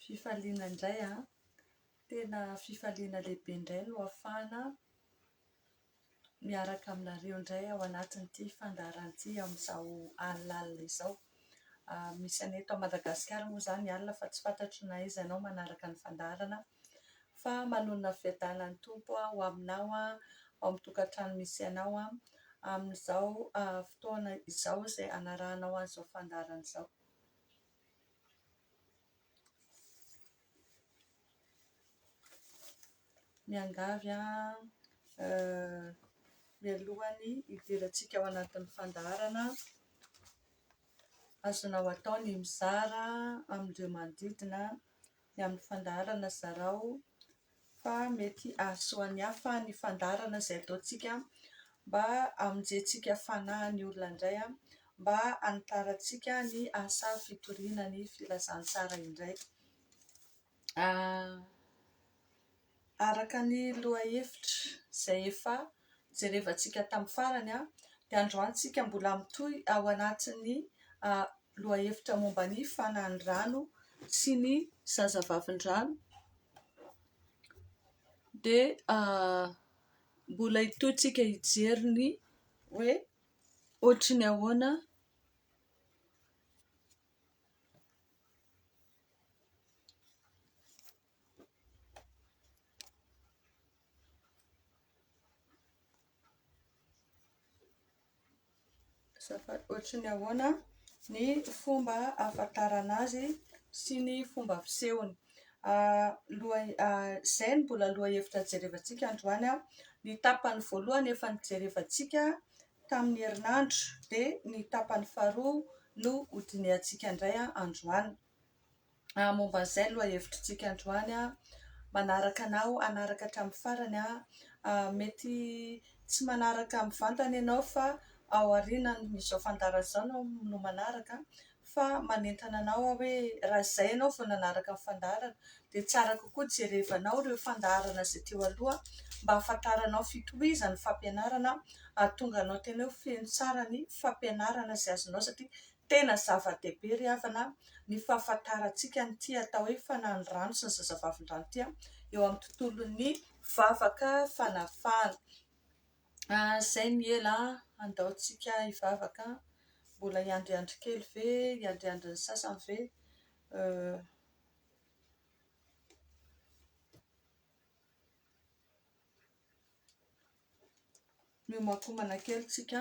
Fifaliana indray an, tena fifaliana lehibe indray no ahafahana miaraka aminareo indray ao anatin'ity fandaharana ity amin'izao alina alina izao. Misy anay eto Madagasikara moa izany ny alina fa tsy fantatro na aiza ianao manaraka ny fandaharana Fa manonona fiadana ny Tompo ho aminao ao amin'ny tokantrano misy anao amin'izao fotoana izao izay hanarahanao an'izao fandaharana izao. Miangavy aho mialohan'ny hidirantsika ao anatin'ny fandaharana, azonao atao ny mizara amin'ireo manodidina ny amin'ny fandaharana zarao fa mety hahasoa ny hafa ny fandaharana izay ataontsika mba hamonjentsika fanahy ny olona indray, mba hanitarantsika ny asa fitoriana ny filazantsara indray. Araka ny lohahevitra izay efa jerevantsika tamin'ny farany dia androany tsika mbola mitohy ao anatin'ny lohahevitra momba ny fanan'ny rano sy ny zazavavindrano dia mbola hitohy tsika hijery ny hoe ohatry ny ahoana Azafady, ohatry ny ahoana ny fomba ahafantarana azy sy ny fomba fisehony? Izay no mbola lohahevitra jerevantsika androany. Ny tapany voalohany efa nojerevantsika tamin'ny herinandro, dia ny tapany faharoa no hodinihantsika indray androany. Ah, momba an'izay lohahevitritsika androany aho manaraka anao, hanaraka hatramin'ny farany aho. Ah, mety tsy manaraka mivantana ianao fa ao aorianan'izao fandaharana izao aho no manaraka an, fa manentana anao aho hoe raha izay ianao vao nanaraka ny fandaharana dia tsara kokoa jerevanao ireo fandaharana izay teo aloha mba hahafantaranao fitohizan'ny fampianarana hahatonga anao tena hoe feno tsara ny fampianarana izay azonao satria Tena zava-dehibe ry havana ny fahafantarantsika an'ity atao hoe fananirano sy ny zazavavindrano ity eo amin'ny tontolon'ny vavaka fanafahana. Izay ny ela andaontsika hivavaka, mbola hiandriandry kely ve, hiandriandry ny sasany ve? Miomankomana kely isika.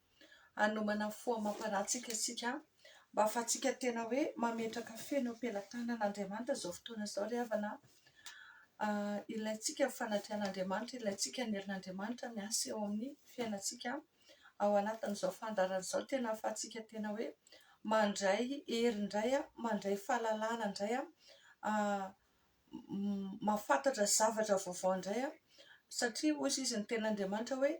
hanomana fo amam-panahy isika mba hahafahantsika tena hoe mametraka feno eo am-pelatanan'Andriamanitra izao fotoana izao ry havana an! Ilaintsika ny fanatrehan'Andriamanitra, ilaintsika ny herin'Andriamanitra miasa eo amin'ny fiainantsika ao anatin'izao fandaharana izao, tena hahafahantsika tena hoe mandray hery indray, mandray fahalalana indray, mahafantatra zavatra vaovao indray aho satria hoy izy ny tenin'Andriamanitra hoe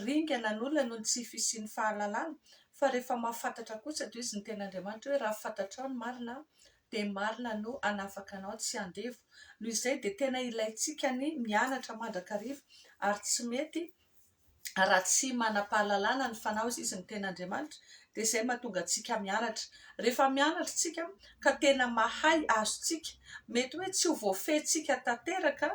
ringana ny olona noho ny tsy fisian'ny fahalalana fa rehefa mahafantatra kosa dia hoy izy ny tenin'Andriamanitra hoe raha fantatrao ny marina dia marina no hanafaka anao tsy handevo, noho izay dia tena ilaintsika ny mianatra mandrakariva ary tsy mety raha tsy manam-pahalalana ny fanao izy ny tena Andriamanitra dia izay mahatonga antsika mianatra. Rehefa mianatra isika ka tena mahay azontsika, mety hoe tsy ho voafehintsika tanteraka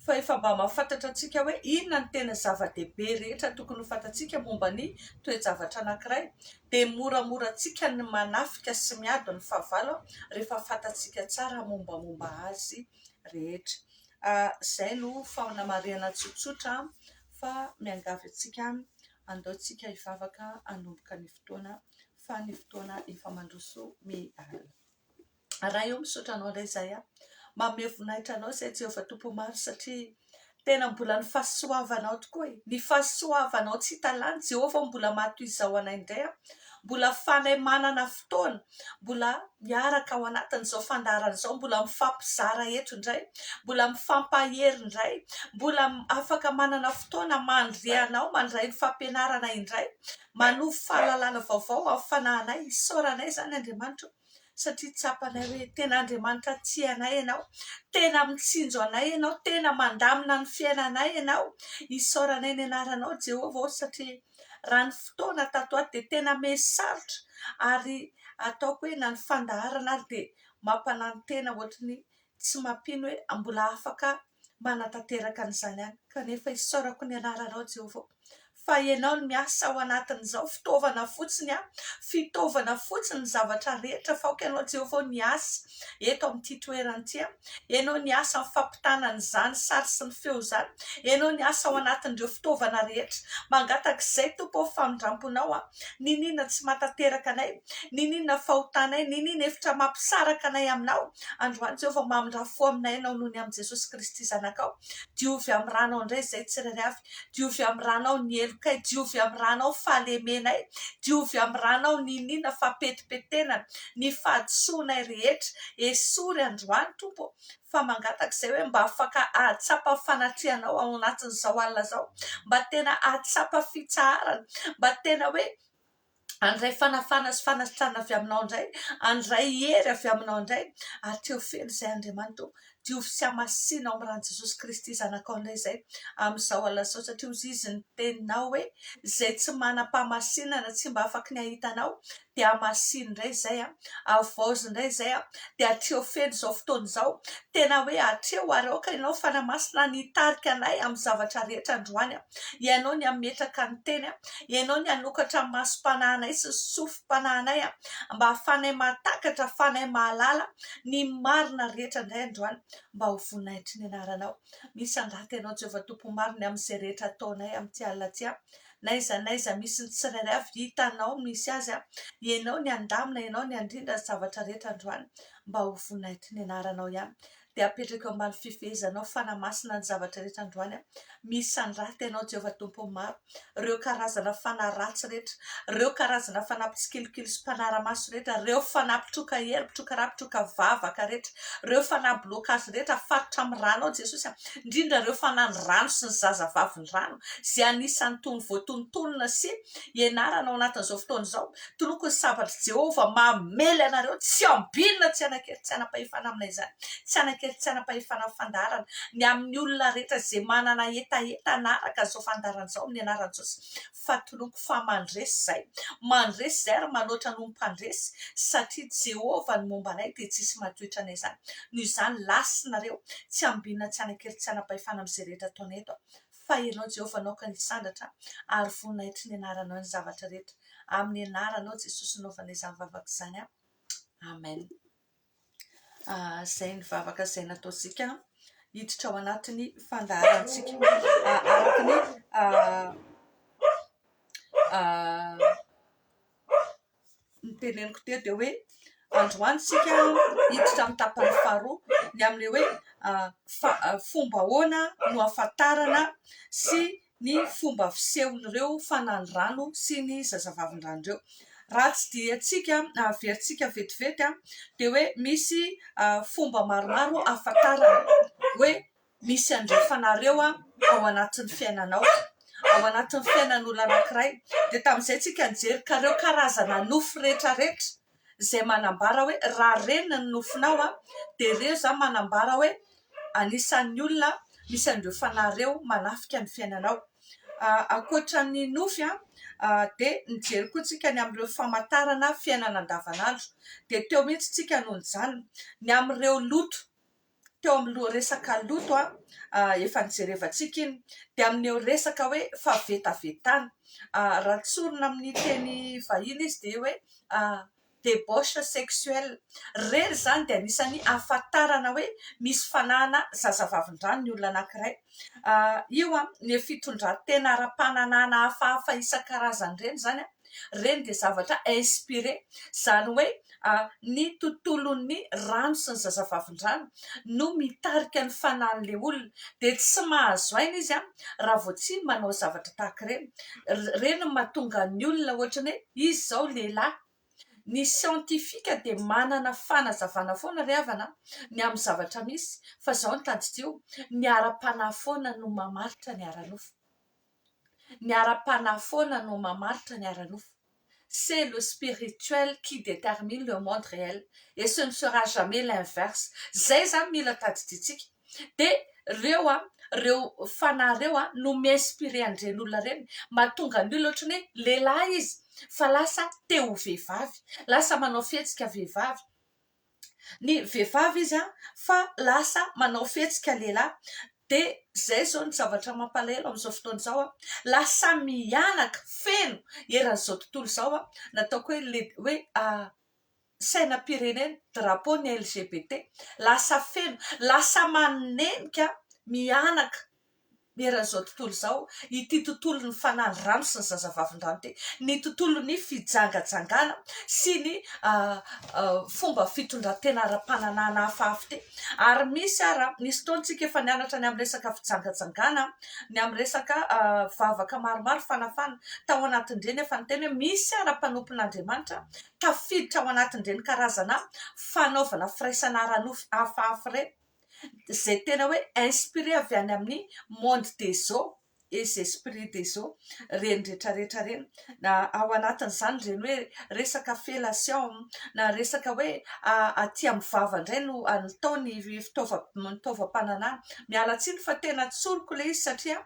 fa efa mba mahafantatra antsika hoe inona ny tena zava-dehibe rehetra tokony ho fantatsika momba ny toe-javatra anankiray dia moramora antsika ny manafika sy miady ny fahavalo rehefa fantatsika tsara mombamomba azy rehetra. Izay no fanamarihana tsotsotra. fa miangavy antsika handao tsika hivavaka hanomboka ny fotoana fa ny fotoana efa mandroso miala. Ray ô misaotra anao indray izay aho manome voninahitra anao izay Jehovah Tompo maro satria tena mbola ny fahasoavanao tokoa e ny fahasoavanao tsy hita lany Jehovah mbola maha toy izao anay indray aho mbola ahafanay manana fotoana mbola miaraka ao anatin'izao fandaharana izao, mbola mifampizara eto indray, mbola mifampahery indray, mbola afaka manana fotoana mandre anao, mandray ny fampianarana indray, manovo fahalalana vaovao amin'ny fanahinay. Isaorana anay izany Andriamanitra ô ! satria tsapanay hoe tena Andriamanitra tia anay ianao, tena mitsinjo anay ianao, tena mandamina ny fiainanay ianao. Isaorana ny anaranao Jehovah ô ! satria raha ny fotoana tato ato dia tena miha-sarotra ary ataoko hoe na ny fandaharana ary dia mampanantena ohatry ny tsy mampino hoe mbola afaka manatanteraka an'izany any kanefa isaorako ny anaranao Jehovah fa ianao no miasa ao anatin'izao fitaovana fotsiny aho fitaovana fotsiny ny zavatra rehetra fa aoka ianao Jehovah miasa eto amin'ity toerana ity. Eny ao ny asa amin'ny fampitana an'izany sary sy ny feo izany. Eny ao ny asa ao anatin'ireo fitaovana rehetra. Mangataka izay, Tompo ô, famindramponao aho. Niniana tsy mahatanteraka anay? Niniana fahotanay? Niniana hevitra mampisaraka anay aminao? Androany, Jehovah, mamindrà fo aminay ianao noho ny amin'i Jesosy Kristy Zanakao. Diovy amin'ny ranao indray izay tsirairay avy. Diovy amin'ny ranao ny helokay, diovy amin'ny ranao fahalemenay, diovy amin'ny ranao ny iniana fahapetipetenana, ny fahadisoanay rehetra, esory androany Tompo ô, fa mangataka izay hoe mba afaka hahatsapa ny fanatrehanao ao anatin'izao alina izao, mba tena hahatsapa fitsaharana, mba tena hoe Handray fanafahana sy fanasitrana avy aminao indray, handray hery avy aminao indray, ary te ho feno izay Andriamanitra ô. Diovy sy hamasino amin'ny ran'i Jesosy Kristy Zanakao indray izay amin'izao alina izao, satria hoy Izy ny Teninao hoe, izay tsy manam-pahamasinana tsy mba afaky ny hahita Anao, dia hamasino indray izay an. Havaozy indray izay an. Dia atreho feno izao fotoana izao, tena hoe atreho ary aoka Ianao Fanahy Masina ny hitarika anay amin'ny zavatra rehetra androany an. Ianao ny hametraka ny teny, Ianao ny hanokatra ny masom-panahinay sy ny sofim-panahinay, mba hahafahanay mahatakatra, hahafahanay mahalala ny marina rehetra indray androany, mba ho voninahitry ny Anaranao. Misy angata Ianao, Jehovah Tompo marina, amin'izay rehetra ataonay amin'ity alina ity. Na aiza na aiza misy ny tsirairay avy, hitanao ny misy azy. Ianao ny handamina, Ianao ny handrindra ny zavatra rehetra androany, mba ho voninahitry ny Anaranao ihany. dia apetrako eo ambany fifehezanao fanahy-masina ny zavatra rehetra androany aho. Misandrata ianao Jehovah Tompon'ny maro, ireo karazana fanahy ratsy rehetra, ireo karazana fanahy mpitsikilokilo sy mpanara-maso rehetra, ireo fanahy mpitroka hery, mpitroka ra, mpitroka vavaka rehetra, ireo fanahy blocage rehetra afarotra amin'ny ranao Jesosy, indrindra ireo fanahy ny rano sy ny zazavavy ny rano izay anisan'ny tony voatonotonona sy ianarana ao anatin'izao fotoana izao. Toloko ny sabatr'i Jehovah mamely anareo tsy ambinina, tsy hanan-kery, tsy hanam-pahefana amina izany, tsy hanan-kery, tsy hanam-pahefana amin'ny fandaharana, ny amin'ny olona rehetra izay manana hetaheta hanaraka izao fandaharana izao amin'ny anaran'i Jesosy, fa toloko fa mandresy izay, mandresy izay ary manoatra noho ny mpandresy, satria Jehovah no momba anay dia tsisy mahatoetra anay izany, noho izany lasinareo, tsy ambinina, tsy hanan-kery, tsy hanam-pahefana amin'izay rehetra ataonay eto, Fa Ianao Jehovah naoka ny hisandratra ary voninahitry ny Anaranao ny zavatra rehetra. Amin'ny Anaranao Jesosy naovana izany vavaka izany aho. Amen. Ah, izay ny vavaka izay nataontsika hiditra ao anatin'ny fandaharantsika. Ah, araka ny ah, ah, ny teneniko teo dia hoe androany isika hiditra amin'ny tapany faharoa ny amin'ilay hoe fa- fomba ahoana no ahafantarana sy ny fomba fisehon'ireo fananirano sy ny zazavavindrano ireo. Raha tsidihintsika na averintsika vetivety dia hoe misy fomba maromaro ahafantarana hoe misy andrefanareo ao anatin'ny fiainanao, ao anatin'ny fiainan'olona anankiray, dia tamin'izay tsika nijery ka ireo karazana nofy rehetra rehetra izay manambara hoe raha ireny ny nofinao an, dia ireo izany manambara hoe anisan'ny olona misy andrefanareo manafika ny fiainanao, ankoatra ny nofy an dia nijery koa tsika ny amin'ireo famantarana fiainana andavan'andro, dia teo mihintsy tsika no nijanona, ny amin'ireo loto. teo amin'ny loharesaka loto efa nijerevantsika iny dia amin'ireo resaka hoe fahavetavetana. Raha tsorina amin'ny teny vahiny izy dia hoe debauche sexuelle. Ireny izany dia anisan'ny ahafantarana hoe misy fanahana zazavavin-drano ny olona anankiray. Io ny fitondran-tena ara-pananahana hafahafa isan-karazany ireny izany. Ireny dia zavatra inspiré, izany hoe ny tontolon'ny rano sy ny zazavavindrano no mitarika ny fanan'ilay olona, dia tsy mahazo aina izy raha vao tsy manao zavatra tahaka ireny. Ireny no mahatonga ny olona ohatra ny hoe izy izao lehilahy. Ny siantifika dia manana fanazavana foana ry havana ny amin'ny zavatra misy fa izao no tadidio, ny ara-panahy foana no mamaritra ny ara-nofo. Ny ara-panahy foana no mamaritra ny ara-nofo. C'est le spirituel qui determine le monde réel et ce ne sera jamais l'inverse. Izay izany mila tadidiantsika. Dia ireo an, ireo fanahy ireo an, no mi-inspirer an'ireny olona ireny. Mahatonga ny olona ohatran'ny hoe lehilahy izy fa lasa te ho vehivavy. Lasa manao fihetsika vehivavy. ny vehivavy izy fa lasa manao fihetsika lehilahy dia izay izao ny zavatra mampalahelo amin'izao fotoana izao, lasa mihanaka feno eran'izao tontolo izao ny ataoko hoe le hoe sainam-pirenena, drapeau ny LGBT, lasa feno, lasa manenika mihanaka eran'izao tontolo izao ity tontolon'ny fanaly rano sy ny zazavavindrano ity, ny tontolon'ny fijangajangana sy ny fomba fitondran-tena ara-pananahana hafahafa ity. Ary misy ara, nisy fotoana isika efa nianatra ny amin'ny resaka fijangajangana, ny amin'ny resaka vavaka maromaro fanafana. Tao anatin'ireny efa niteny hoe misy ara mpanompon'Andriamanitra tafiditra ao anatin'ireny karazana fanaovana firaisana ara-nofo hafahafa ireny. izay tena hoe inspiré avy any amin'ny monde des eaux et esprit des eaux ireny rehetra rehetra ireny na ao anatin'izany ireny hoe resaka fellation na resaka hoe aty amin'ny vava indray no atao ny fitaovam-pananahana, miala tsiny fa tena tsoriko ilay izy satria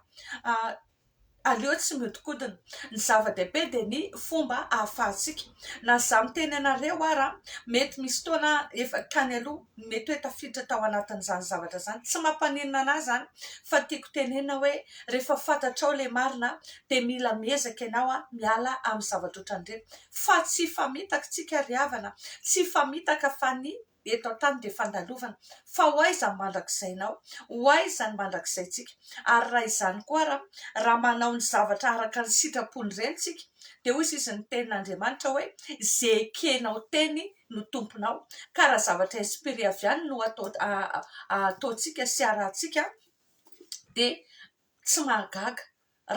Aleo tsy mihodinkodina. Ny zava-dehibe dia ny fomba ahafahantsika. Na izaho miteny anareo ara, mety misy fotoana efa tany aloha mety hoe tafiditra tao anatin'izany zavatra izany. Tsy mampaninona an'ahy izany fa tiako tenenina hoe rehefa fantatrao ilay marina dia mila miezaka ianao miala amin'ny zavatra ohatran'ireny. Fa tsy hifamitaka isika ry havana, tsy hifamitaka fa ny eto an-tany dia fandalovana fa ho aiza ny mandrakizainao? ho aiza ny mandrakizaintsika? ary raha izany koa ara? raha manao ny zavatra araka ny sitrapony ireny tsika dia hoy izy ny tenin'Andriamanitra hoe ze ekenao teny no tomponao ka raha zavatra esprit avy any no ataontsika sy arahantsika dia Tsy mahagaga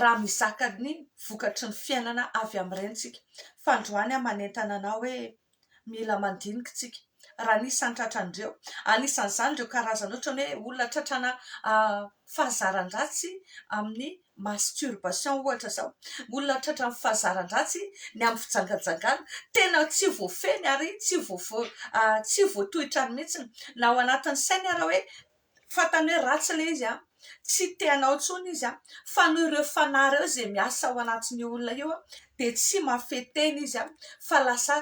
raha mizaka ny vokatry ny fiainana avy amin'ireny isika, fa androany aho manentana anao hoe mila mandinika isika raha ny isan'ny tratran'ireo. Anisan'izany ireo karazana ohatran'ny hoe olona tratrana fahazaran-dratsy amin'ny masturbation ohatra izao, olona tratran'ny fahazaran-dratsy ny amin'ny fijangajangana. Tena tsy voafehiny ary tsy voa- tsy voatohitra mihitsy na ao anatin'ny sainy ary hoe. fantany hoe ratsy ilay izy an, tsy te hanao intsony izy an, fa noho ireo fanahy ireo izay miasa ao anatin'io olona io dia tsy mahafehy tena izy an, fa lasa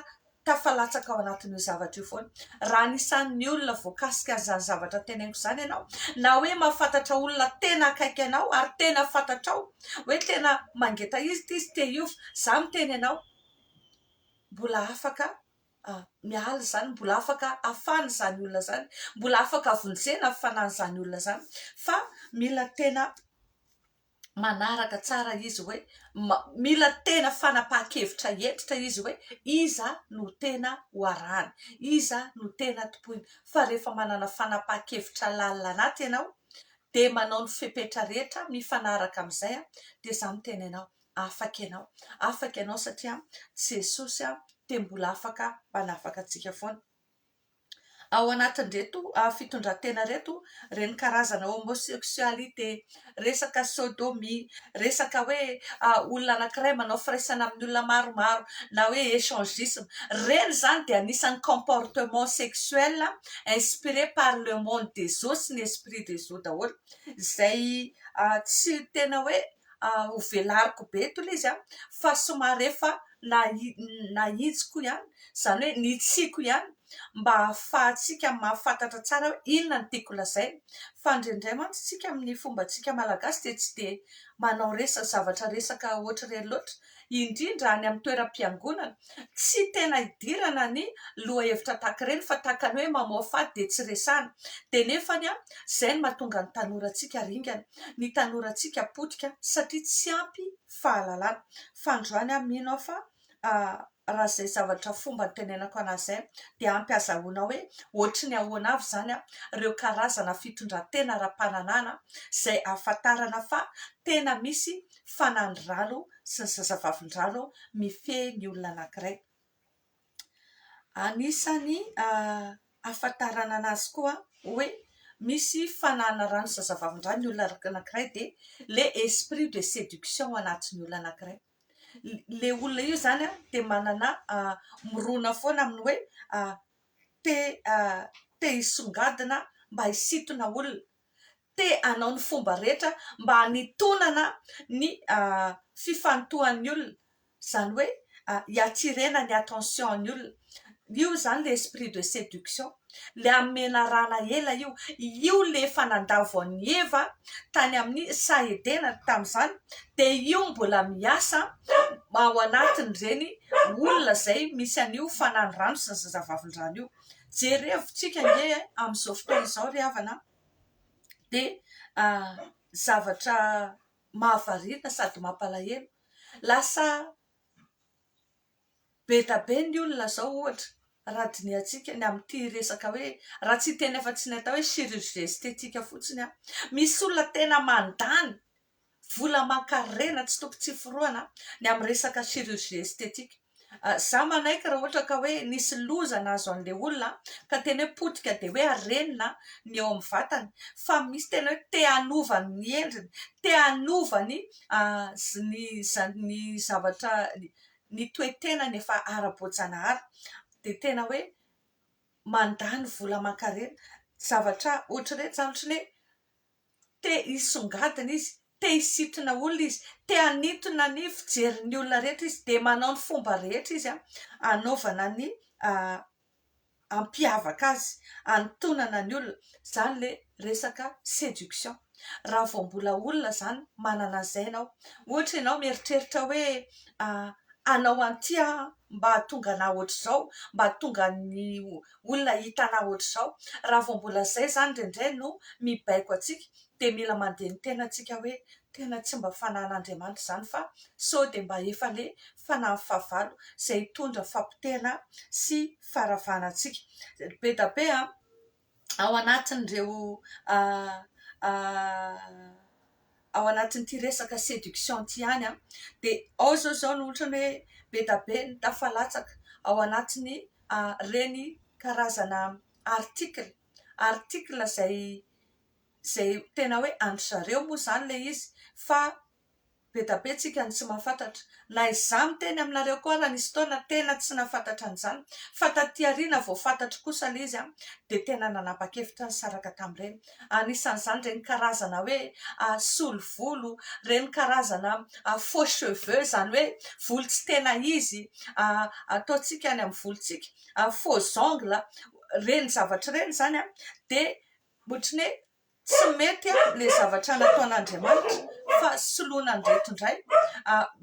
tafalatsaka ao anatin'io zavatra io foana. Raha anisan'ny olona voakasika an'izany zavatra teneniko izany ianao, na hoe mahafantatra olona tena akaiky anao ary tena fantatrao hoe tena mangeta izy ity izy te hiova, izaho miteny anao mbola afaka miala izany mbola afaka afana izany olona izany mbola afaka vonjena ny fanan'izany olona izany fa mila tena manaraka tsara izy hoe mila tena fanapahan-kevitra hentitra izy hoe iza no tena ho arahany iza no tena tompoiny fa rehefa manana fanapahan-kevitra lalina anaty ianao dia manao ny fepetra rehetra mifanaraka amin'izay dia izaho miteny anao afaka ianao. Afaka ianao satria Jesosy dia mbola afaka manafaka antsika foana. Ao anatin'ireto fitondran-tena ireto, ireny karazana homosexualité, resaka sodomie, resaka hoe olona anankiray manao firaisana amin'ny olona maromaro na hoe échangisme, ireny izany dia anisan'ny comportement sexuel inspiré par le monde des eaux sy ny esprit des eaux daholo izay tsy tena hoe ho velariko be eto ilay izy fa somary efa nahitsiko ihany, izany hoe nitsiako ihany mba hahafahantsika mahafantatra tsara hoe inona no tiako lazaina fa indraindray mantsy isika amin'ny fombantsika malagasy dia tsy dia manao resaka zavatra resaka ohatr'ireny loatra indrindra any amin'ny toeram-piangonana, tsy tena hidirana ny lohahevitra tahaka ireny fa tahaka ny hoe mamoafady dia tsy resahana, dia nefany izay no mahatonga ny tanorantsika ringana, ny tanorantsika potika satria tsy ampy fahalalana, fa androany mino aho fa raha izay zavatra fomba nitenenako an'azy izay dia ampy hazahoana hoe ohatry ny ahoana avy izany ireo karazana fitondran-tena ara-pananahana izay ahafantarana fa tena misy fanan'ny rano sy ny zazavavindrano mifehy ny olona anankiray. Anisan'ny ahafantarana anazy koa hoe misy fananana rano sy zazavavindrano ny olona anankiray dia le esprit de séduction ao anatin'ny olona anankiray. Ilay olona io izany dia manana mirona foana amin'ny hoe te te hisongadina mba hisintona olona. te hanao ny fomba rehetra mba hanitonana ny fifantohan'ny olona, izany hoe hiatirena ny attention-ny olona. Io izany ilay esprit de séduction, ilay amin'ny menarana ela io. Io ilay efa nandà voan'i Eva tany amin'ny saha Edena tamin'izany, dia io mbola miasa ao anatin'ireny olona izay misy an'io fananirano sy ny zazavavindrano io. Jerevintsika ange amin'izao fotoana izao ry havana dia zavatra mahavariana sady mampalahelo. Lasa be dia be ny olona izao ohatra raha dinihantsika ny amin'ity resaka hoe raha tsy hiteny afa-tsy ny atao hoe chirurgie esthétique fotsiny aho. Misy olona tena mandany vola aman-karena tsy toko tsy forohana ny amin'ny resaka chirurgie esthétique za manaiky raha ohatra ka hoe nisy loza nahazo an'ilay olona ka tena hoe potika dia hoe arenina ny eo amin'ny vatany fa misy tena hoe te hanova ny endriny te hanova ny ny ny zavatra ny toe-tenany efa ara-boajanahary dia tena hoe mandany vola aman-karena zavatra ohatr'ireny izany ohatry ny hoe te hisongadina izy, te hisitrana olona izy, te hanintona ny fijerin'ny olona rehetra izy, dia manao ny fomba rehetra izy hanaovana ny hampiavaka azy, hanintonana ny olona. Izany ilay resaka séduction. Raha vao mbola olona izany, manana an'izay ianao. Ohatra ianao mieritreritra hoe hanao an'ity aho mba hahatonga anà hoatr'izao, mba hahatonga ny olona hitanà ohatr'izao, raha vao mbola izay izany indraindray no mibaiko antsika dia mila mandeha ny tena antsika hoe tena tsy mba fanahin'Andriamanitra izany fa sao dia mba efa le fanahin'ny fahavalo izay hitondra fahapotehana sy faharavana antsika. Be da be an! ao anatin'ireo ao anatin'ity resaka séduction ity ihany dia ao izao izao no ohatran'ny hoe be dia be ny tafalatsaka ao anatin'ny ireny karazana article article izay izay tena hoe an-dry zareo moa izany ilay izy fa be dia be isika no tsy mahafantatra Na izaho miteny aminareo koa ary nisy fotoana tena tsy nahafantatra an'izany fa taty aoriana vao fantatro kosa ilay izy dia tena nanapa-kevitra nisaraka tamin'ireny. Anisan'izany ireny karazana hoe solo volo, ireny karazana faux cheveux izany hoe volo tsy tena izy ataontsika any amin'ny volontsika, faux ongles ireny zavatra ireny izany dia ohatran'ny hoe tsy mety ilay zavatra nataon'Andriamanitra fa soloina an'ireto indray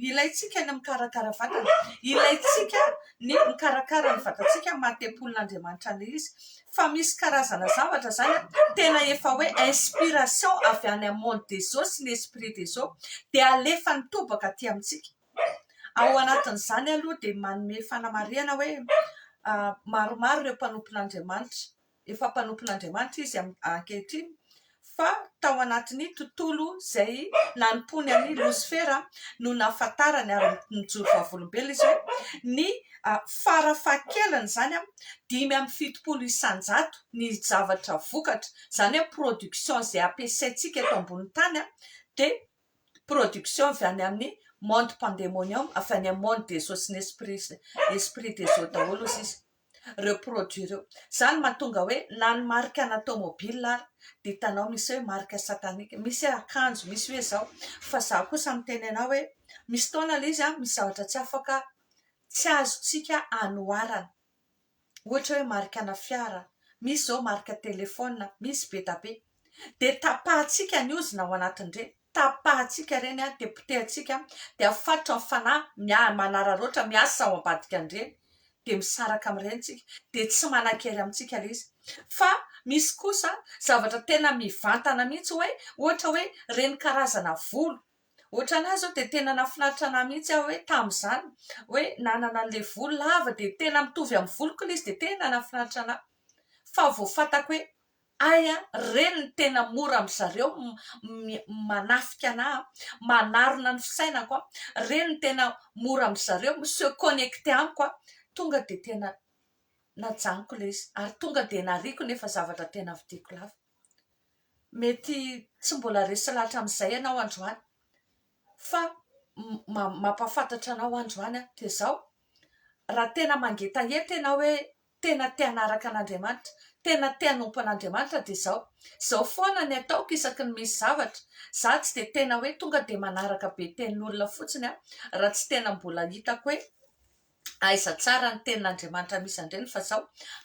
ilaintsika ny mikarakara vatana, ilaintsika ny mikarakara ny vatantsika amin'ny maha tempolin'Andriamanitra an'ilay izy fa misy karazana zavatra izany tena efa hoe inspiration avy any amin'ny monde des eaux sy ny esprit des eaux dia alefa nitobaka aty amintsika, ao anatin'izany aloha dia manome fanamarihana hoe maromaro ireo mpanompon'Andriamanitra. efa mpanompon'Andriamanitra izy ankehitriny, fa tao anatin'ny tontolo izay nanompoany an'i Losifera no nahafantarany, ary nijoro vavolombelona izy hoe ny fara fahakeliny izany dimy amby fitopolo isan-jato ny zavatra vokatra, izany hoe production izay ampiasaintsika eto ambonin'ny tany dia production avy any amin'ny monde pandemonium, avy any amin'ny monde des esprits, esprit des eaux daholo hoy izy. ireo produit ireo. Izany no mahatonga hoe na ny marika ana tomobile ary dia hitanao misy hoe marika satanique. Misy hoe akanjo, misy hoe izao. Fa izaho kosa miteny anao hoe misy fotoana ilay izy misy zavatra tsy afaka tsy azontsika anoharana. Ohatra hoe marika ana fiara, misy izao marika telephone, misy be dia be. Dia tapahantsika ny ozona ao anatin'ireny. tapahantsika ireny dia potehantsika dia afatotra ny fanahy miahy manararaotra miasa ao ambadikan'ireny dia misaraka amin'ireny isika dia tsy manan-kery amintsika ilay izy fa misy kosa zavatra tena mivantana mihitsy hoe ohatra hoe ireny karazana volo ohatra ny ahy izao dia tena nahafinaritra anah mihitsy aho hoe tamin'izany hoe nanana an'ilay volo lava dia tena mitovy amin'ny voloko ilay izy dia tena nahafinaritra anah fa vao fantako hoe Hay a, reny ny tena mora amin-dry zareo manafika anà, manarona ny fisainako, reny ny tena mora amin-dry zareo mi-se connecter amiko, tonga dia tena najanoko ilay izy ary tonga dia nariako ny efa zavatra tena vidiko lafo. Mety tsy mbola resy lahatra amin'izay ianao androany fa mampahafantatra anao androany aho dia izao, raha tena mangetaheta ianao hoe tena te hanaraka an'Andriamanitra, tena te hanompo an'Andriamanitra dia izao, izao foana ny ataoko isaky ny misy zavatra, za tsy dia tena hoe tonga dia manaraka be tenin'olona fotsiny aho raha tsy tena mbola hitako hoe aiza tsara ny tenin'Andriamanitra misy andreny fa izao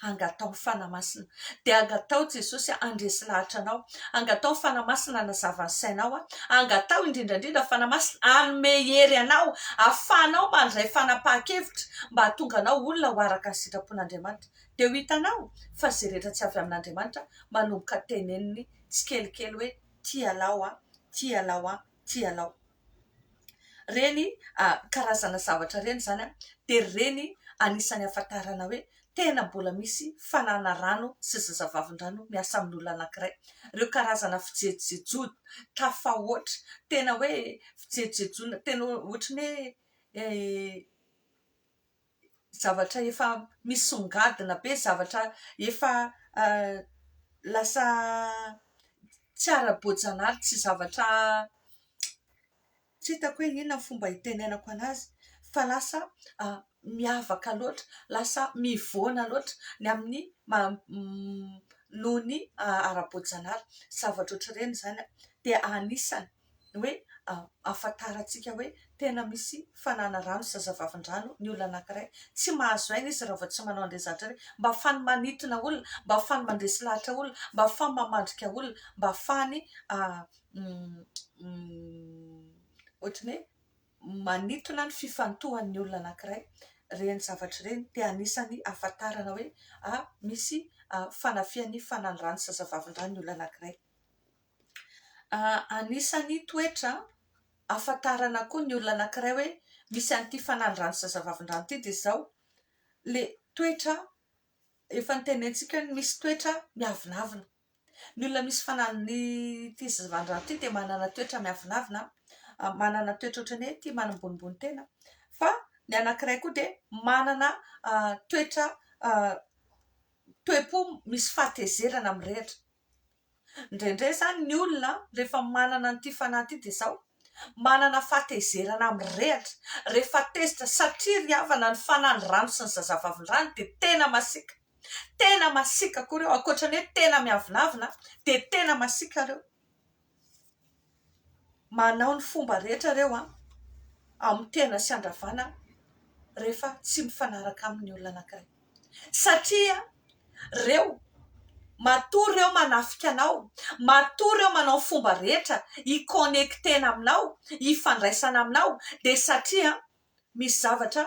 angataho ny Fanahy Masina dia angataho Jesosy handresy lahatra anao Angataho Fanahy Masina hanazava ny sainao a! Angataho indrindra indrindra Fanahy Masina hanome hery anao afahanao mandray fanapahan-kevitra mba hahatonga anao olona ho araka ny sitrapon'Andriamanitra. Dia ho hitanao fa izay rehetra tsy avy amin'Andriamanitra manomboka teneniny tsikelikely hoe, Ty ialaho a! Ty ialaho a! tianao. Ireny karazana zavatra ireny izany dia ireny anisan'ny ahafantarana hoe tena mbola misy fanana rano sy zazavavindrano miasa amin'olona anankiray. Ireo karazana fijejojejoana tafahoatra, tena hoe fijejojejoana tena ohatran'ny hoe zavatra efa misongadina be, zavatra efa lasa tsy ara-boajanahary, tsy zavatra tsy hitako hoe inona ny fomba hitenenako anazy fa lasa miavaka loatra, lasa mivoana loatra ny amin'ny noho ny ara-boajanahary. Zavatra ohatr'ireny izany dia anisany hoe ahafantarantsika hoe tena misy fananarano sy zazavavindrano ny olona anankiray. Tsy mahazo aina izy raha vao tsy manao an'ireny zavatra ireny. Mba hahafahany manintona olona, mba hahafahany mandresy lahatra olona, mba hahafahany mamandrika olona, mba hahafahany ohatran'ny hoe manintona ny fifantohan'ny olona anankiray. Ireny zavatra ireny dia anisan'ny ahafantarana hoe misy fanafihan'ny fananarano sy zazavavindrano ny olona anankiray. Anisan'ny toetra ahafantarana koa ny olona anankiray hoe misy an'ity fanalirano zazavavindrano ity dia izao, ilay toetra efa notenenintsika hoe misy toetra miavonavona. Ny olona misy fanaln'ity zazavavindrano ity dia manana toetra miavonavona, manana toetra ohatran'ny hoe tia manambonimbony tena. Fa ny anankiray koa dia manana toetra toe-po misy fahatezerana mirehitra. Indraindray izany ny olona rehefa manana an'ity fanahy ity dia izao, manana fahatezerana amin'ny rehatra, rehefa tezitra satria ry havana ny fanan'ny rano sy ny zazavavin'ny rano dia tena masiaka, tena masiaka koa ireo, ankoatra ny hoe tena miavonavona dia tena masiaka ireo. manao ny fomba rehetra ireo amin'ny tena sy handravana rehefa tsy mifanaraka amin'ny olona anankiray satria ireo matoa ireo manafika anao, matoa ireo manao ny fomba rehetra hi-connecter-na aminao, hifandraisana aminao dia satria misy zavatra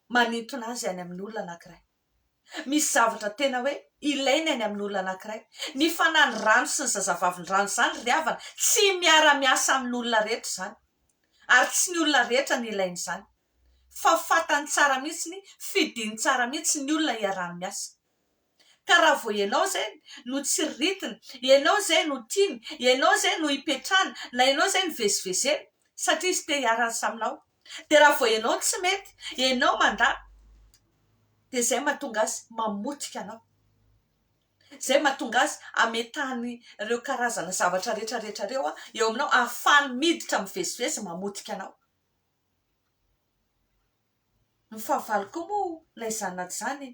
manintona azy any amin'ny olona anankiray. Misy zavatra tena hoe ilaina eny amin'ny olona anankiray. Ny fanan'ny rano sy ny zazavavindrano izany ry havana, tsy miara-miasa amin'ny olona rehetra izany. Ary tsy ny olona rehetra no ilaina izany. Fa fantany tsara mihitsy, fidiny tsara mihitsy ny olona iarahany miasa. Ka raha vao ianao izay no tsiriritiny, ianao izay no tiany, ianao izay no ipetrahany, na ianao izay no vezivezeny, satria izy te hiara-miasa aminao, Dia raha vao ianao tsy mety, ianao mandà, dia izay no mahatonga azy mamotika anao. Izay no mahatonga azy hametahany ireo karazana zavatra rehetra rehetra ireo eo aminao, ahafahany miditra mivezivezy mamotika anao. Ny fahavalo koa moa na izany na tsy izany,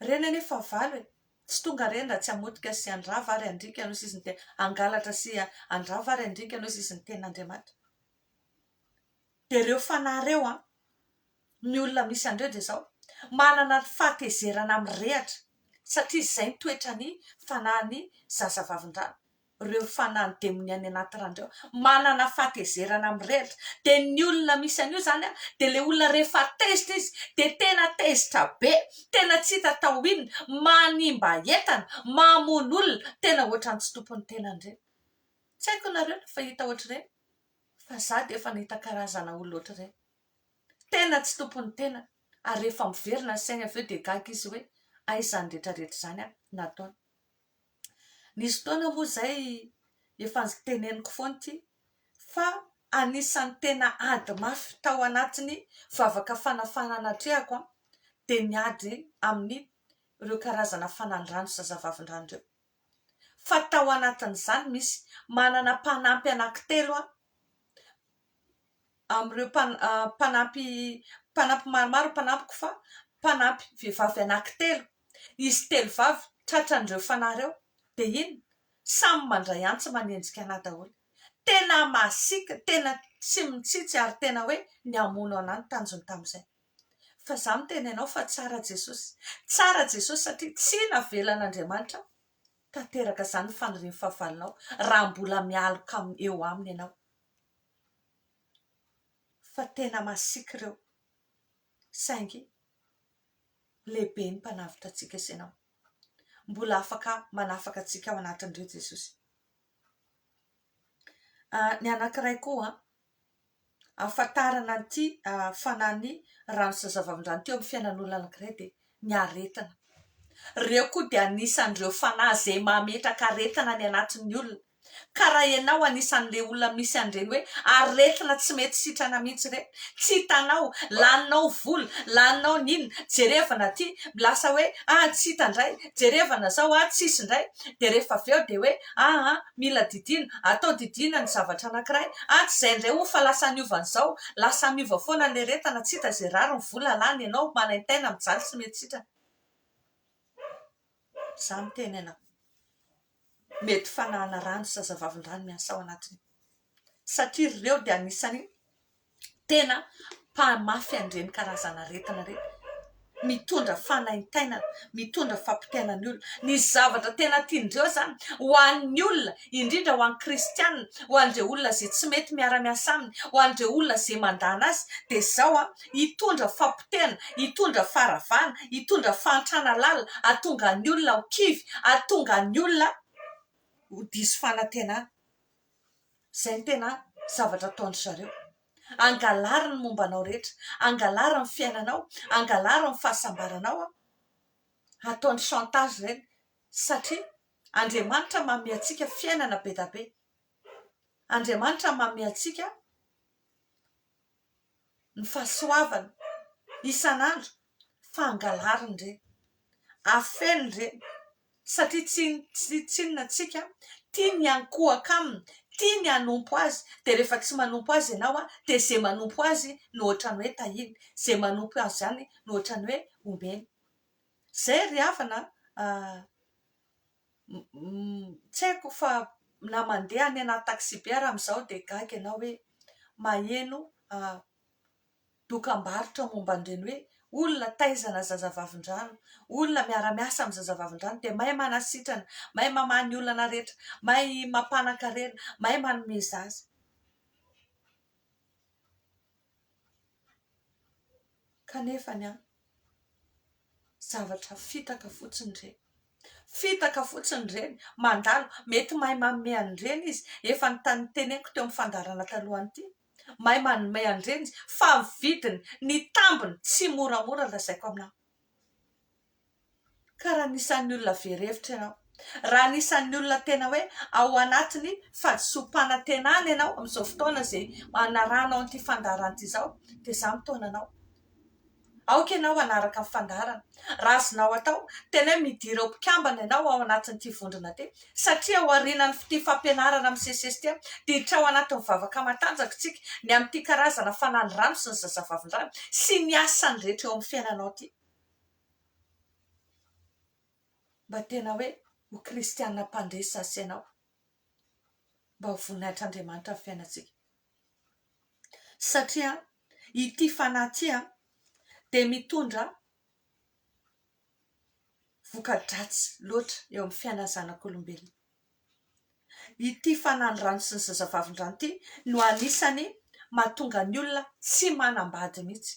ireny anie fahavalo e! tsy tonga ireny raha tsy hamotika sy handrava ary handriaka an'io sisiny tena, hangalatra sy handrava ary handriaka an'io sisiny tenin'Andriamanitra. dia ireo fanahy ireo an! ny olona misy an'ireo dia izao manana ny fahatezerana mirehitra satria izay ny toetran'ny fanahin'ny zazavavindrano, ireo fanahin'ny demonia any anaty rano ireo manana fahatezerana mirehitra, dia ny olona misy an'io izany an! dia ilay olona rehefa tezitra izy dia tena tezitra be, tena tsy hita atao inona, manimba entana, mamono olona, tena ohatran'ny tsy tompon'ny tenany ireny, tsy haiko nareo fa hita ohatr'ireny? fa za de efa nahita karazana olona ohatr'ireny, tena tsy tompon'ny tenany ary rehefa miverina ny sainy avy eo dia gaga izy hoe aiza izany rehetra rehetra izany an nataony, nisy fotoana moa izay efa teneniko foana ity fa anisan'ny tena ady mafy tao anatin'ny vavaka fanafahan'atrehako an dia ny ady amin'ireo karazana fanandrano sy zazavavindrano ireo. fa tao anatin'izany misy manana mpanampy anankitelo aho amin'ireo mpanampy mpanampy maromaro ny mpanampiko fa mpanampy vehivavy anankitelo, izy telo vavy tratran'ireo fanahy ireo dia inona? samy mandray antsy manenjika anà daholo, tena masiaka, tena tsy mitsitsy ary tena hoe ny hamono anà no tanjony tamin'izay. fa za miteny anao fa tsara Jesosy, tsara Jesosy satria tsy navelan'Andriamanitra tanteraka zany ny fanirian'ny fahavalonao raha mbola mialoka eo aminy ianao, fa tena masiaka ireo saingy lehibe ny mpanavotra antsika sy ianao, mbola afaka manafaka antsika ao anatin'ireo Jesosy, ny anankiray koa ahafantarana an'ity fanan'ny rano sy zavamindrano teo amin'ny fiainan'olona anankiray dia ny aretina. Ireo koa dia anisan'ireo fanahy izay mametraka aretina any anatin'ny olona ka raha ianao anisan'ilay olona misy an'ireny hoe aretina tsy mety sitrana mihitsy ireny, tsy hitanao, laninao vola, laninao ny inona, jerevana aty, lasa hoe tsy hita indray, jerevana izao, tsisy indray, dia rehefa avy eo dia hoe aa mila didiana, atao didiana ny zavatra anakiray an tsy zay ndray o fa lasa niova nizao, lasa miova foana ny eretana, tsy hita ze rariny vola lany enao manaintaina mijaly sy mety sitrana za miteny anao mety fanahana rano zazavavindrano miasa ao anatiny satria ry reo dia anisany tena mpahamafy an'ireny karazana aretina ireny, mitondra fanaintainana, mitondra fampitaina ny olona, ny zavatra tena tian-dry zeo zany ho an'ny olona indrindra ho an'ny kristianina, ho an'ireo olona izay tsy mety miara miasa aminy, ho an'ireo olona izay mandana azy dia izao an hitondra fampitehana, hitondra faharavana, hitondra fahantrana lalina, hahatonga ny olona ho kivy, hahatonga ny olona ho diso fanantenana. izay no tena zavatra ataon-dry zareo, hangalary ny momba anao rehetra, hangalary ny fiainanao, hangalary ny fahasambaranao, ataony chantage ireny satria Andriamanitra manome antsika fiainana be dia be, Andriamanitra manome antsika. ny fahasoavana isan'andro fa angalariny ireny, afeno ireny satria tsy tsinona tsika tia ny ankohaka aminy, tia ny hanompo azy dia rehefa tsy manompo azy ianao dia izay manompo azy no ohatran'ny hoe tahiny, izay manompo azy ihany no ohatran'ny hoe omeny. Izay ry havana a! Tsy haiko fa na mandeha any anaty taxi-be ary amin'izao dia gaga ianao hoe maheno dokam-barotra momba an'ireny hoe olona taizana zazavavindrano, olona miara-miasa amin'ny zazavavindrano dia mahay manasitrana, mahay mamaha ny olana rehetra, mahay mampanan-karena, mahay manome zaza. Kanefa an! Zavatra fitaka fotsiny ireny. Fitaka fotsiny ireny. Mandalo. Mety mahay manome an'ireny izy. Efa noteneniko teo amin'ny fandaharana talohan'ity. Mahay manome an'ireny izy. Fa ny vidiny, ny tambiny, tsy moramora lazaiko aminao. Ka raha anisan'ny olona very hevitra ianao, raha anisan'ny olona tena hoe ao anatin'ny fadisoam-panantenana ianao amin'izao fotoana izay anarahanao an'ity fandaharana ity izao dia izaho mitaona anao. Aoka ianao hanaraka ny fandaharana. Raha azonao atao, tena hoe midira ho mpikambana ianao ao anatin'ity vondrona ity satria ao aorianan'ity fampianarana misesisesy ity dia hiditra ao anatin'ny vavaka matanjaka isika ny amin'ity karazana fananirano sy ny zazavavindrano sy ny asany rehetra eo amin'ny fiainanao ity. Mba tena hoe ho kristiana mpandresy sasy ianao, mba ho voninahitr'Andriamanitra ny fiainantsika. Satria ity fanahy ity dia mitondra voka-dratsy loatra eo amin'ny fiainan'ny zanak'olombelona. Ity fanahin-drano sy ny zazavavindrano ity no anisany mahatonga ny olona tsy manambady mihitsy.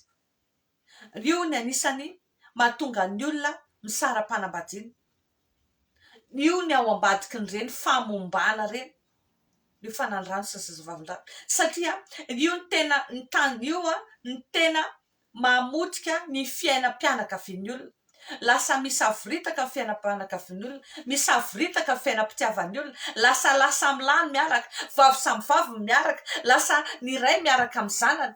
Io ny anisany mahatonga ny olona misara-panambadiana. Io ny ao ambadikin'ireny famombana ireny, io fanandrano sy zazavavindrano. Satria io no tena, ny tany io no tena mamotika ny fiainam-pianakavian'ny olona. Lasa misavoritaka ny fiainam-pianakavian'ny olona, misavoritaka ny fiainam-pitiavan'ny olona, lasa lahy samy lahy no miaraka, vavy samy vavy no miaraka, lasa ny ray miaraka amin'ny zanany.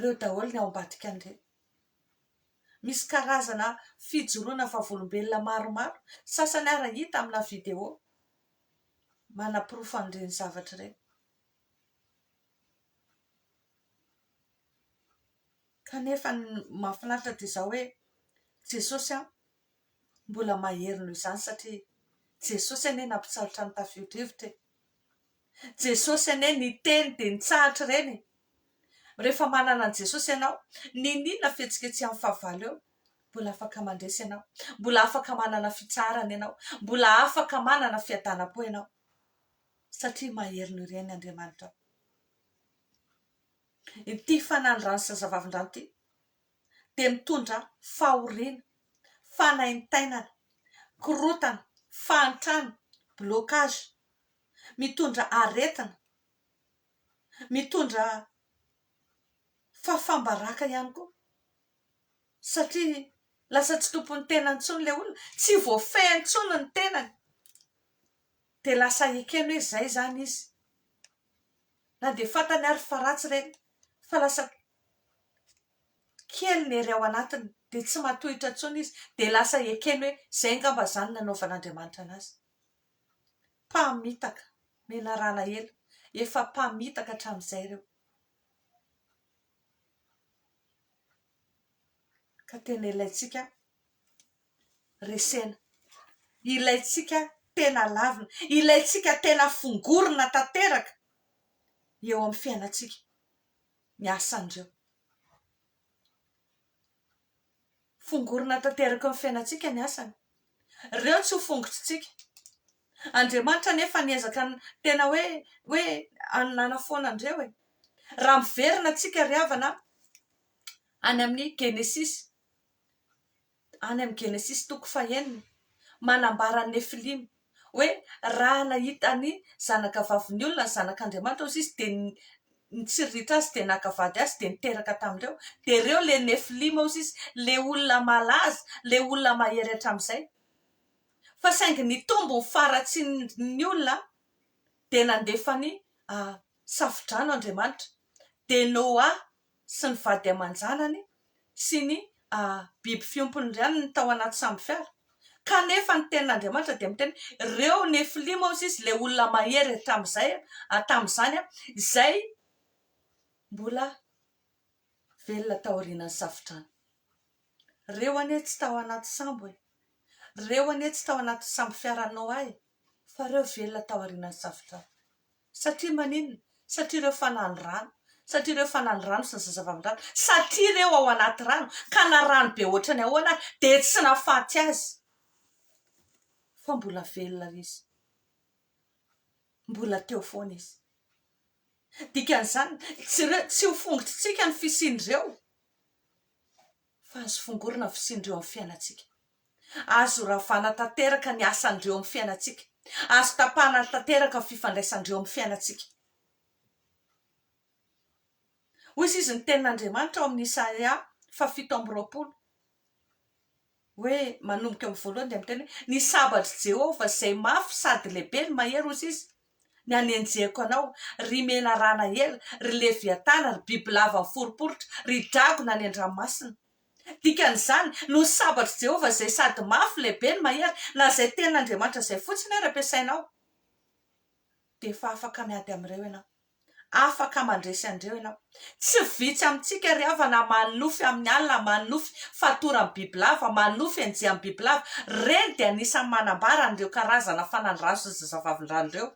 reo daholo ny ao ambadika an'ireny. Misy karazana fijoroana vavolombelona maromaro, sasany ary hita amina video manaporofo an'ireny zavatra ireny. Kanefa ny mahafinaritra dia izao hoe Jesosy an, mbola mahery noho izany satria Jesosy anie nampitsahatra ny tafio-drivotra e. Jesosy anie niteny dia nitsahatra ireny e! Rehefa manana an'i Jesosy ianao, niniana fihetsiketsehan'ny fahavalo eo? Mbola afaka mandresy ianao, mbola afaka manana fitsaharana ianao, mbola afaka manana fiadanam-po ianao, satria mahery noho ireny Andriamanitra. Ity fanandrano sy zazavavindrano ity dia mitondra fahoriana, fanaintainana, korotana, fahantrana, blocage, mitondra aretina, mitondra fahafam-baraka ihany koa satria lasa tsy tompon'ny tenany intsony ilay olona, tsy voafehy intsony ny tenany dia lasa ekeny hoe izay izany izy na dia fantany ary fa ratsy ireny fa lasa kely ny hery ao anatiny dia tsy matohitra intsony izy dia lasa ekeny hoe izay angamba izany nanaovan'Andriamanitra an'azy. Mpamitaka, menarà alahelo. Efa mpamitaka hatramin'izay ireo. Ka tena ilaintsika resena. Ilaintsika tena lavina. Ilaintsika tena fongorina tanteraka eo amin'ny fiainantsika ny asan'ireo. Fongorina tanteraka eo amin'ny fiainantsika ny asany. Ireo tsy ho fongotr'intsika. Andriamanitra anefa niezaka tena hoe hoe hanafoana an'ireo e. Raha miverina tsika ry havana any amin'ny genesisy, any amin'ny genesisy toko fahenina, manambara an'i Nefilima. hoe raha nahita ny zanakavavin'ny olona ny zanak'Andriamanitra hozy izy dia nitsiriritra azy dia naka vady azy dia niteraka tamin'ireo dia ireo ilay nefilima hozy izy ilay olona malaza ilay olona mahery hatramin'izay fa saingy nitombo ny faharatsian'ny olona dia nandefa ny safodrano Andriamanitra dia Noa sy ny vady aman-janany sy ny biby fiompiny ihany ny tao anaty sambo fiara. Kanefa ny Tenin'Andriamanitra dia miteny, Ireo Nefilima, hoy Izy, ilay olona mahery hatramin'izay, tamin'izany, izay mbola velona taorianan'ny safodrano. Ireo anie tsy tao anaty sambo e! Ireo anie tsy tao anaty sambo fiaran'i Noa e! Fa ireo velona taorianan'ny safodrano. Satria maninona? Satria ireo fanal rano, satria ireo fanal rano sy ny zazavavindrano, satria ireo ao anaty rano ka na rano be ohatran' ny ahoana ary dia tsy nafaty azy fa mbola velona ry izy, mbola teo foana izy. Dikan'izany, tsy ireo, tsy ho fongotrintsika ny fisian'ireo. fa azo fongorina ny fisian'ireo amin'ny fiainantsika. Azo ravana tanteraka ny asan'ireo amin'ny fiainantsika. Azo tapahana tanteraka ny fifandraisan'ireo amin'ny fiainantsika. Hoy izy izy ny tenin'Andriamanitra ao amin'ny Isaia faha fito amby roapolo hoe manomboka eo amin'ny voalohany dia miteny hoe ny sabatr'i Jehovah izay mafy sady lehibe no mahery hoy izy ny anenjehiko anao, ry menarana ela, ry leviatana, ry bibilava miforiporitra, ry dragona any an-dranomasina. Dikan'izany, noho ny sabatr'i Jehovah izay sady mafy, lehibe no mahery, na izay tenin'Andriamanitra izay fotsiny ary ampiasainao, dia efa afaka miady amin'ireo ianao. Afaka mandresy an'ireo ianao. Tsy vitsy amintsika ry havana manofy amin'ny alina, manofy fatoran'ny bibilava, manofy enjehan'ny bibilava. Ireny dia anisan'ny manambara an'ireo karazana fanalirazo sy zazavavindrano ireo.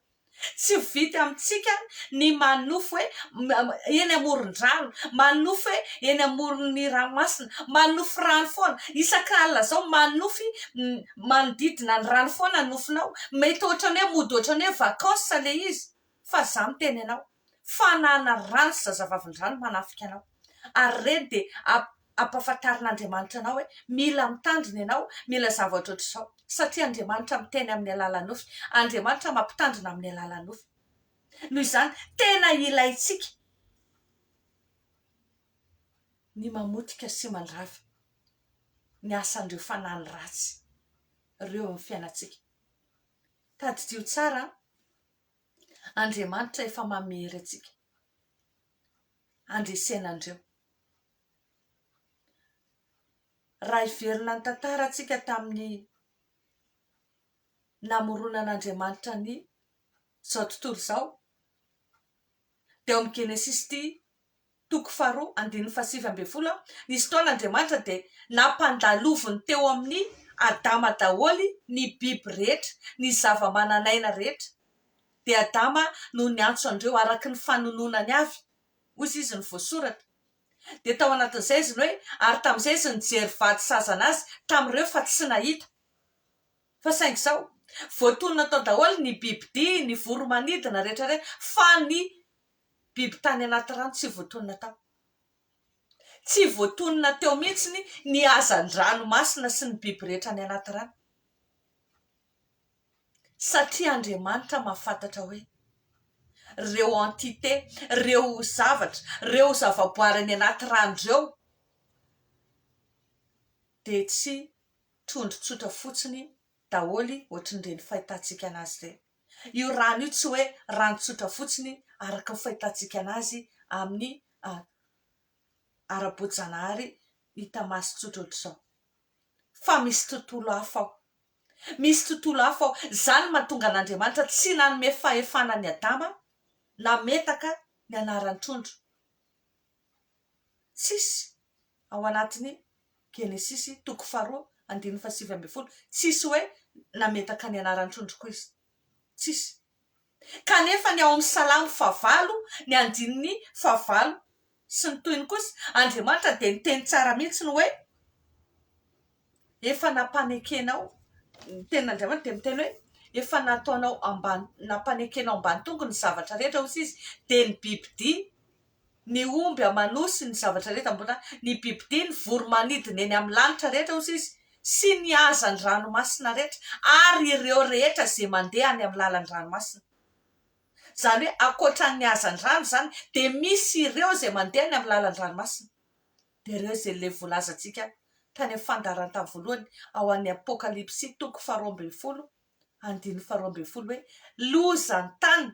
Tsy vitsy amintsika ny manofy hoe eny amoron-drano, manofy hoe eny amoron'ny ranomasina, manofy rano foana. Isak'alina izao manofy manodidina ny rano foana ny nofinao. Mety ohatran'ny hoe mody ohatran'ny hoe vacances ilay izy. fa za miteny anao fanana rano sy zazavavindrano manafika anao ary reny de ampafantarina Andriamanitra anao hoe mila mitandrina ianao mila zavatra ohatr'izao satria Andriamanitra miteny amin'ny alalan'ny nofy Andriamanitra mampitandrina amin'ny alalan'ny nofy noho izany tena ilaintsika ny mamotika sy mandrava ny asan'ireo fanany ratsy ireo amin'ny fiainantsika tadidio tsara Andriamanitra efa mamery antsika handresena an'ireo. Raha hiverina ny tantara antsika tamin'ny namoronan'Andriamanitra ny izao tontolo izao, dia ao amin'ny Genesisy ity Toko faharoa andininy fahasivy ambin'ny folo Nisy fotoana Andriamanitra dia nampandaloviny teo amin'i Adama daholo ny biby rehetra, ny zava-manan'aina rehetra. Dia Adama no niantso an'ireo araka ny fanononany avy, hoy izy izy no voasoratra. Dia tao anatin'izay izy ny hoe, ary tamin'izay izy nijery vady sazana azy tamin'ireo fa tsy nahita. Fa saingy izao, voatonona tao daholo ny bibidia, ny voromanidina rehetra rehetra, fa ny Biby tany anaty rano tsy voatonona tao. Tsy voatonona teo mihitsy ny hazan-dranomasina sy ny biby rehetra any anaty rano. Satria Andriamanitra mahafantatra hoe ireo entité, ireo zavatra, ireo zavaboary any anaty rano ireo dia tsy trondro tsotra fotsiny daholo ohatran'ireny fahitatsika an'azy ireny. Io rano io tsy hoe rano tsotra fotsiny araka ny fahitantsika anazy amin'ny ara-boajanahary hita maso tsotra ohatr'izao. Fa misy tontolo hafa ao. Misy tontolo hafa ao. Izany no mahatonga an'Andriamanitra tsy nanome fahefana an'i Adama nametaka ny anaran'ny trondro. Tsisy ao anatin'ny Genesisy toko faharoa andininy fahasivy ambin'ny folo, tsisy hoe nametaka ny anaran'ny trondro koa izy. Tsisy. Kanefa ny ao amin'ny Salamo fahavalo, ny andininy fahavalo sy ny tohiny kosa, Andriamanitra dia niteny tsara mihitsy ny hoe, efa nampanekenao ny tenin'Andriamanitra dia miteny hoe efa nataonao ambany nampanekenao ambany tongo ny zavatra rehetra hoy izy dia ny bibidia ny omby aman'osy ny zavatra rehetra mbola ny bibidia ny voromanidina eny amin'ny lanitra rehetra hoy izy sy ny hazan'ny ranomasina rehetra ary ireo rehetra izay mandeha any amin'ny lalan'ny ranomasina izany hoe ankoatra ny hazan'ny rano izany dia misy ireo izay mandeha any amin'ny lalan'ny ranomasina Dia ireo izay ilay voalazantsika tany amin'ny fandaharantany voalohany ao amin'ny Apokalypsy toko faharoa ambin'ny folo andininy faharoa ambin'ny folo hoe, Loza ny tany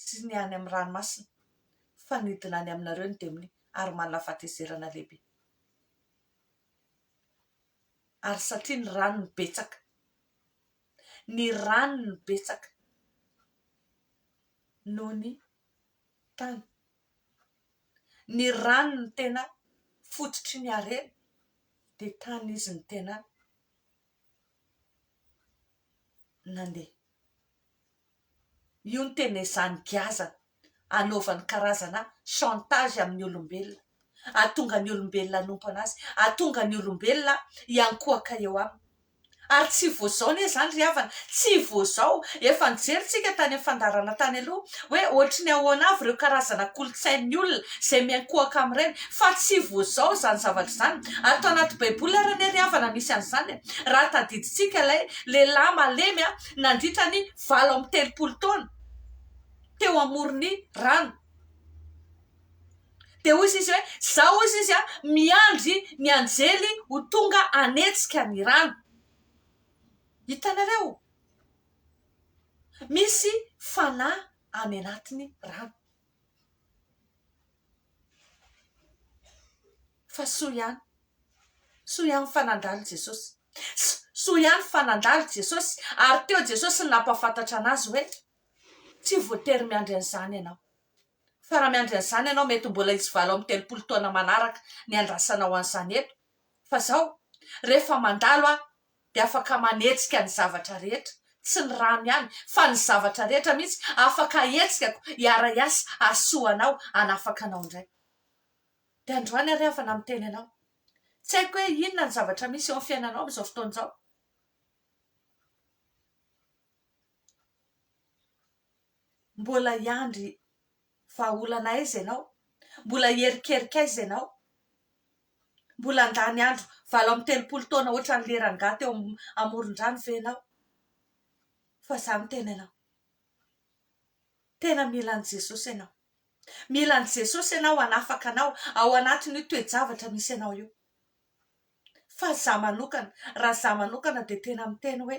sy ny any amin'ny ranomasina, fa nidina any aminareo ny demonia ary manana fahatezerana lehibe. Ary satria ny ranony betsaka, ny ranony betsaka noho ny tany. Ny rano no tena fototry ny harena dia tany izy no tena nandeha. Io no tena ezahany giazana hanaovany karazana chantage amin'ny olombelona, hahatonga ny olombelona hanompo an'azy, hahatonga ny olombelona hiankohoka eo aminy. Ary tsy vao izao anie izany ry havana, tsy vao izao. Efa nijery tsika tany amin'ny fandaharana tany aloha hoe ohatry ny ahoana avy ireo karazana kolontsain'ny olona izay miankohaka amin'ireny. Fa tsy vao izao izany zavatra izany. Ary tao anaty baiboly ary anie ry havana misy an'izany e. Raha tadidintsika ilay lehilahy malemy nandritra ny valo amby telopolo taona teo amoron'ny rano. dia hoy izy hoe izao hoy izy a miandry ny anjely ho tonga hanetsika ny rano hitanareo misy fanahy any anatiny rano fa soa ihany soa ihany fa nandalo jesosy soa ihany fa nandalo jesosy ary teo jesosy nampafantatra anazy hoe tsy voatery miandry an'izany ianao Fa raha miandry an'izany ianao, mety mbola hisy valo amby telopolo taona manaraka ny handrasanao an'izany eto. Fa izao, rehefa mandalo aho, dia afaka manetsika ny zavatra rehetra, tsy ny rano ihany, fa ny zavatra rehetra mihitsy, afaka ahetsikako, hiara-hiasa, hahasoa anao, hanafaka anao indray. Dia androany ary aho efa namiteny anao. Tsy haiko hoe inona ny zavatra misy eo amin'ny fiainanao amin'izao fotoana izao. Mbola hiandry vahaolana aiza ianao? Mbola hierikerika aiza ianao? Mbola handany andro valo amby telopolo taona ohatran'i lery rangahy teo amoron-drano ve ianao? Fa za miteny anao, tena mila an'i Jesosy ianao, mila an'i Jesosy ianao hanafaka anao ao anatin'io toe-javatra misy anao io. Fa za manokana, raha za manokana dia tena miteny hoe.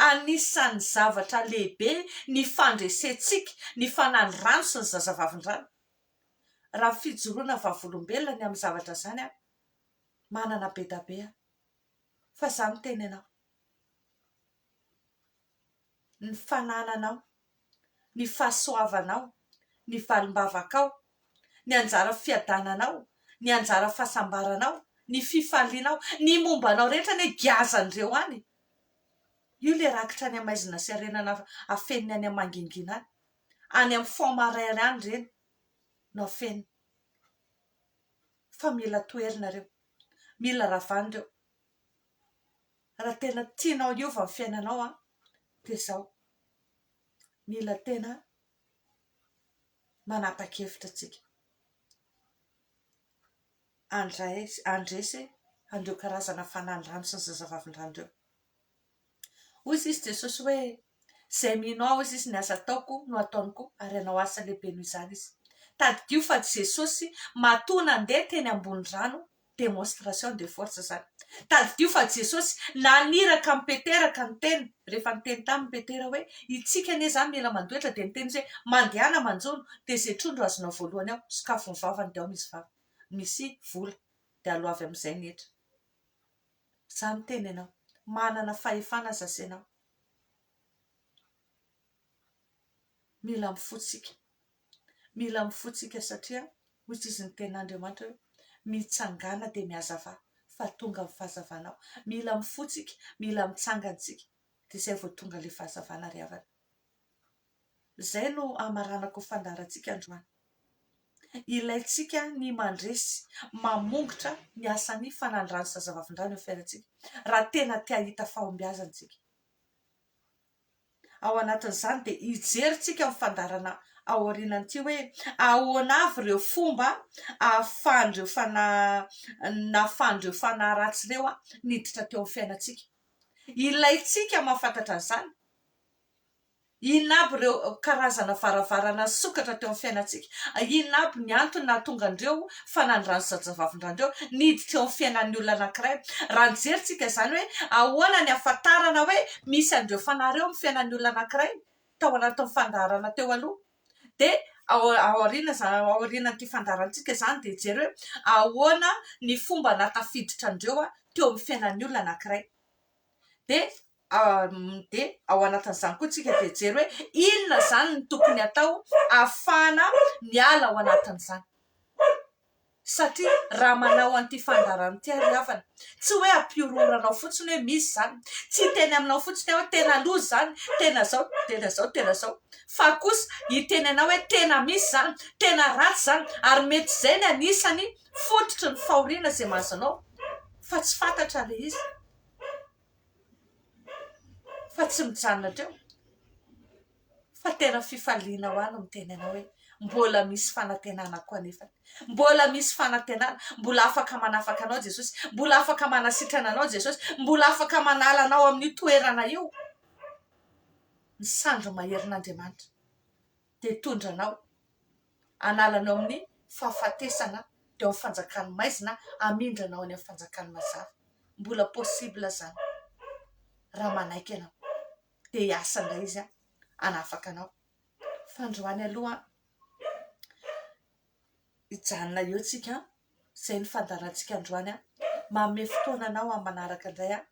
Anisan'ny zavatra lehibe ny fandresentsika ny fanahin'ny rano sy ny zazavavindrano. Raha fijoroana vavolombelona ny amin'ny zavatra izany aho, manana bedabe aho, fa izaho miteny anao, ny fanananao ny fahasoavanao, ny valim-bavakao, ny anjara fiadananao, ny anjara fahasambaranao, ny fifalianao, ny momba anao rehetra anie giazan'ireo any e! Io ilay rakitra any amaizina sy arenana afeniny any amangingina any, any amin'ny fond marère any ireny no afeniny fa mila toherina ireo, mila ravana ireo. raha tena tianao hiova ny fiainanao an, dia izao, mila tena manapa-kevitra tsika, handray handresy an'ireo karazana fanandrano sy ny zazavavindrano ireo. Hoy sisa Jesosy hoe, Izay mino Ahy, hoy sisa, ny asa ataoko no hataony koa, ary hanao asa lehibe noho izany izy. Tadidio fa Jesosy matoa nandeha teny ambony rano, démonstration de force izany. Tadidio fa Jesosy naniraka an'i Petera ka niteny, rehefa niteny taminy Petera hoe, Hitsika anie izany, mila mandoetra, dia niteny izy hoe, Mandehana manjono, dia izay trondro azonao voalohany ao, sokafy ny vavany, dia ao misy vava, misy vola, dia aloa avy amin'izay ny hetra. Za miteny anao. Manana fahefana aza sy enao. Mila mifotsika. Mila mifotsika satria hoy tsy izy ny tenin'Andriamanitra hoe, mitsangàna dia mihazavà fa tonga ny fahazavana ao. Mila mifotsika, mila mitsangana isika dia izay vao tonga ilay fahazavana ry havana. Izay no hamaranako fandaharantsika androany. Ilaintsika ny mandresy, mamongotra ny asan'ny fanandrano sy zazavavindrano eo amin'ny fiainantsika, raha tena te hahita fahombiazana isika. Ao anatin'izany dia hijery isika amin'ny fandaharana aorianan'ity hoe ahoana avy ireo fomba ahafahan'ireo fanahy, nahafahan'ireo fanahy ratsy ireo niditra teo amin'ny fiainantsika. Ilaintsika mahafantatra an'izany, Inona aby ireo karazana varavarana nisokatra teo amin'ny fiainantsika? Inona aby ny antony nahatonga an'ireo fanandran'ny zajavavin-dRandeo niditra eo amin'ny fiainan'ny olona anankiray? Raha nijery tsika izany hoe ahoana ny hahafantarana hoe misy an'ireo fanahy ireo amin'ny fiainan'ny olona anankiray tao anatin'ny fandaharana teo aloha dia ao aoriana izany ao aorianan'ity fandaharantsika izany dia hijery hoe ahoana ny fomba nahatafiditra an'ireo teo amin'ny fiainan'ny olona anankiray dia dia ao anatin'izany koa tsika dia hijery hoe inona izany no tokony atao afahana miala ao anatin'izany satria raha manao an'ity fandaharana ity ary havana tsy hoe ampihorohoranao fotsiny hoe misy izany tsy hiteny aminao fotsiny aho hoe tena loza izany tena zao tena zao tena zao fa kosa hiteny anao hoe tena misy izany tena ratsy izany ary mety izay ny anisany fototry ny fahoriana izay mahazo anao fa tsy fantatra ilay izy fa tsy mijanona teo fa tena fifaliana ho ahy no miteny anao hoe mbola misy fanantenana koa anefa, mbola misy fanantenana, mbola afaka manafaka anao Jesosy, mbola afaka manasitrana anao Jesosy, mbola afaka manala anao amin'io toerana io ny sandry maherin'Andriamanitra. dia hitondra anao hanala anao amin'ny fahafatesana teo amin'ny fanjakan'ny maizina hamindra anao any amin'ny fanjakan'ny mazava. Mbola possible izany raha manaiky ianao. Dia hiasa indray izy hanafaka anao. Fandroany aloha hijanona eo tsika an! izay no fandaharantsika androany an! manome fotoana anao amin'ny manaraka indray an!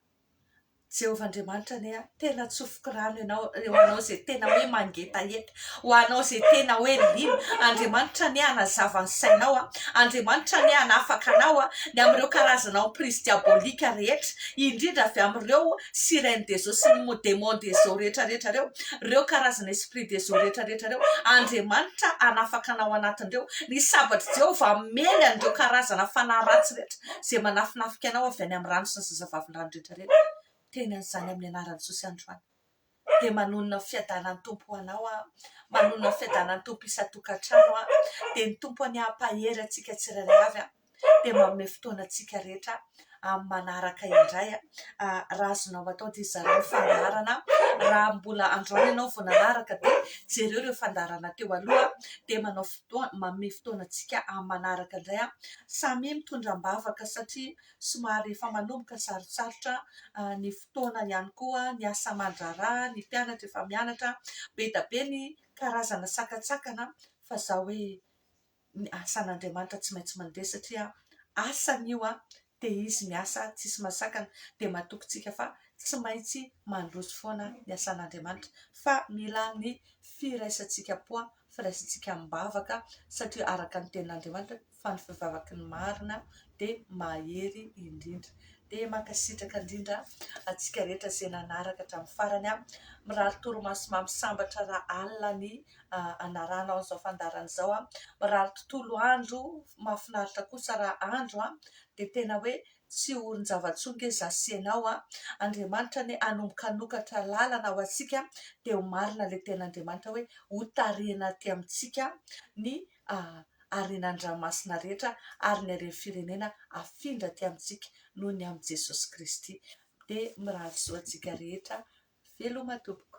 Jehovah Andriamanitra anie an! tena atsofoko rano ianao ho anao izay tena hoe mangetaheta ho anao izay tena hoe liana Andriamanitra anie hanazava ny sainao an! Andriamanitra anie hanafaka anao an! ny amin'ireo karazana emprise diabolique rehetra indrindra avy amin'ireo sirène des eaux sy ny démon des eaux rehetra rehetra reo, reo karazana esprit des eaux rehetra rehetra reo, Andriamanitra hanafaka anao anatin'ireo, ny sabatr'i Jehovah hamely an'ireo karazana fanahy ratsy rehetra izay manafinafika anao avy any amin'ny rano sy ny zazavavindrano rehetra rehetra, teny an'izany amin'ny anaran'i Jesosy androany. dia manonona ny fiadanan'ny Tompo ho anao aho, manonona ny fiadanan'ny Tompo isan-tokantrano aho, dia ny Tompo anie hampahery antsika tsirairay avy aho, dia manome fotoana antsika rehetra amin'ny manaraka indray aho, raha azonao atao dia zarao ny fandaharana, raha mbola androany ianao vao nanaraka dia jereo ireo fandaharana teo aloha, dia manao fotoana, manome fotoana antsika amin'ny manaraka indray aho, samia mitondra am-bavaka satria somary efa manomboka sarotsarotra ny fotoana ihany koa ny asa aman-draharaha, ny mpianatra efa mianatra, be dia be ny karazana sakantsakana fa zao hoe ny asan'Andriamanitra tsy maintsy mandeha satria asany io dia izy miasa tsisy mahasakana dia matoky antsika fa tsy maintsy mandroso foana ny asan'Andriamanitra fa mila ny firaisantsika poa firaisintsika am-bavaka satria araka ny tenin'Andriamanitra fa ny fivavaky ny marina dia mahery indrindra. Dia mankasitraka indrindra antsika rehetra izay nanaraka hatramin'ny farany. Mirary torimaso mamy sambatra ra alina ny anaranao an'izao fandaharana izao. Mirary tontolo andro mahafinaritra kosa ra andro dia tena hoe Tsy orin-java-tsoa nge za sy enao a! Andriamanitra anie hanomboka hanokatra lalana ho antsika dia ho marina ilay tenin'Andriamanitra hoe hotarihina aty amintsika ny harenan-dranomasina rehetra ary ny haren'ny firenena hafindra aty amintsika noho ny amin'i Jesosy Kristy. Dia mirary soa antsika rehetra. Veloma tompoko.